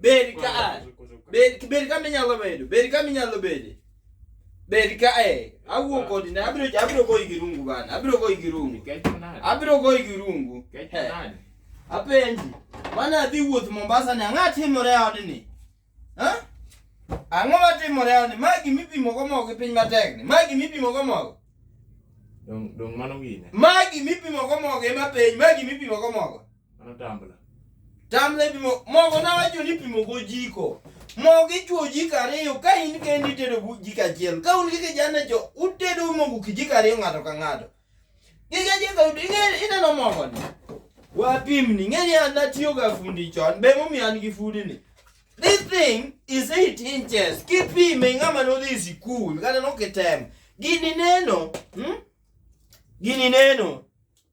Berika a. Berika berika me nyalo bedo. Berika me nyalo bedo. Berika eh. Awuo kodi na abiro abiro goyi gi rungu bana. Abiro goyi gi rungu. Abiro goyi gi rungu. Apenji. Mana adhi wuoth Mombasa ni ang'a timore odni. Ha? Ang'o ma timore odni? Ma gimi pimo go mogo gi piny matek ni. Ma gimi pimo go mogo. Dong dong mano gine. Ma gimi pimo go mogo ema penj. Ma gimi pimo go mogo. Mano tambla. Tambla ipimo mogo nawacho ni ipimo gojiko. Mogo ichuo jiko ariyo ka in kendi itedo bu- jiko achiel. Ka un gi kijana jo utedo mogo kijiko ariyo ng'ato ka ng'ato. Gige jiko ing'e- ineno mogo ni. Wapimni ng'e ni an natiyo ga fundi chon be momiyo an gi fundi ni. This thing is 8 inches. Kipime ng'ama nodhi sikul kata nokitem. Gini neno, hmm? Gini neno.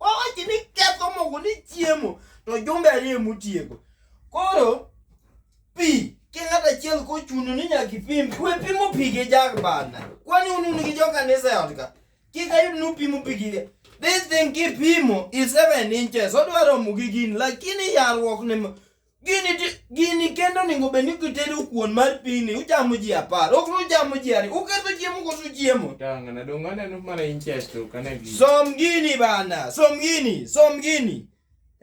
wawachi ni ketho mogo ni chiemo to jumbe ariyo emotieko koro pi ki ng'at achiel kochuno ni nyaka ipim kwe pimo pi gi jag bana kwani un un gi jokanisa e ot ka kik ayud ni upimo pi gi this thing kipimo is seven inches odwa romo gi gini lakini yarruok ni gini ti- gini kendo onego bed ni kitedo kuon mar pini uchamo ji apar ok ni uchamo ji ariyo uketho chiemo koso chiemo Tangana dong aneno mana inches to kana gi. som gini bana som gini som gini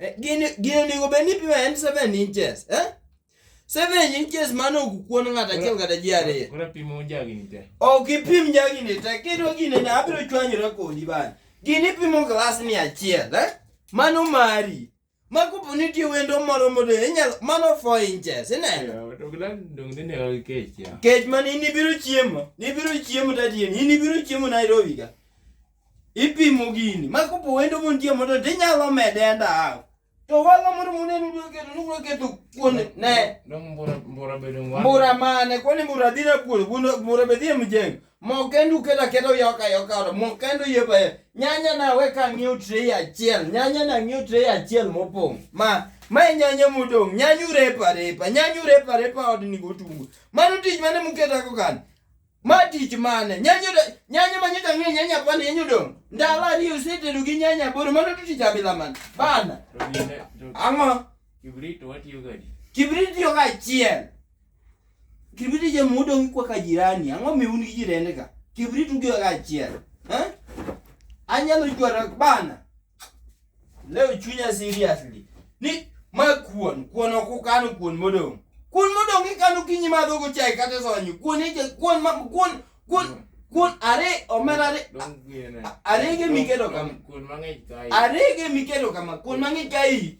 Eh, gini gini onego bed ni pima en 7 inches eh 7 inches mano ok kuon ng'ato achiel kata ji ariyo Kuna pimo jagi ni te. ok ipim jagini te kidwa gini ne abiro chwanyora kodi bana gini pimo glas ni achiel eh? mano mari ma kopo ni nitie wendo moro modo inyalo mano four inches ineno Yeah, to glan dong dine ga kech ya. kech man in ibiro chiemo nibiro chiemo tatieni in ibiro chiemo nairobi ka ipimo gini ma kopo wendo montie modo tinyalo mede enda hafu to walo moro muneno ubiro keto nubiro keto kuon ne Dong mbura mbura bedo ngwa. mbura mane kwani mbura dhira kuon kuon- mbura be dhie mjengo Mokendo ukela kela uyoka yoka ora mokendo yie baye. Nyanya na we ka ng'iew tray achiel. Nyanya na ng'iew tray achiel mopong'. Ma ma e nyanya modong'. Nyanya urepa repa. Nyanya urepa repa od ni gotungu. Mano tich mane muketa ko kan. Ma tich mane? Nyanya ude- nyanya ma nyaka ng'e nyanya pan nyanya udong'. Ndalo ariyo usetedo gi nyanya boro mano to tich abila man. Bana. Ang'o? Kibrit watiyo gadi. Kibrit yo ka achiel. Kibrit je mudong kwa ka jirani, ang'o mi un gi jirende ka? Kibrit ugiwa ka achiel. Eh? Anyalo chwara bana. Leo chunya seriously. Ni ma kuon, kuon ok ukano kuon modong. Kuon modong ikano kinyi madho go chai kata sonyo. Kuon ije kuon ma kuon kuon kuon are omera are Dong gini. Arege miketo kama. Kuon mang'eny kae. arege miketo kama kuon mang'eny ka iyi